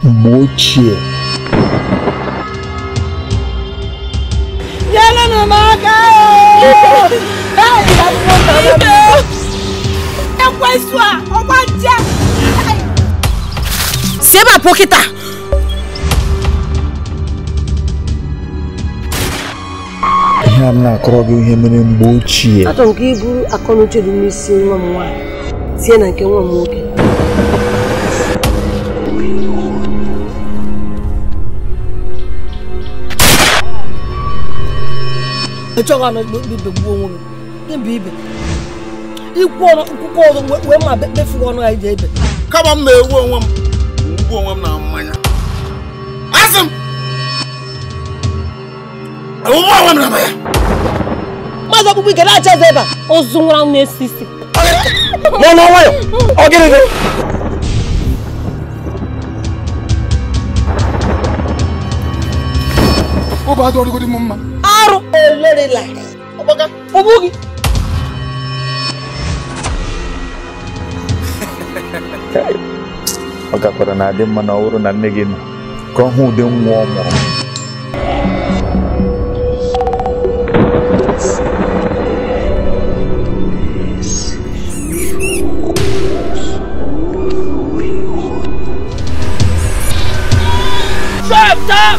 mgbe ochie nyerenụ m aka ekwensu a ọgbaja si ebe a pụọ kịta ihe a m na-akọrọ gị ihe mere mgbe ochie achọrọ m ka i buru akọnuche dị n'isi nwa m nwaanyị tie na nke nwa m nwoke ị chọghị anọ ikpe ikpe gbuo onwe gị ịbụ ibe ikwu ọnụ nkwụkwọ ọzọ wee ma befuo gị ọnụ anyị ji ebe kama m na-egbu onwe m egbu onwe m na mmanya asị m egbuwe onwe m na mmanya mmadụ ọkpụkpụ ike na-acha eze ebe a ozu nwụrụ anwụ na-esi isi nọ n'ọnwa ya ọ gịnị gị ọ bụ adụ ọrịgodi m mma arụ olorila ọ gakwara na-adị mma na ọ bụrụ na nne gị nọ ka ọ hụ ụdị nwa ọ mụrụ Stop! Stop!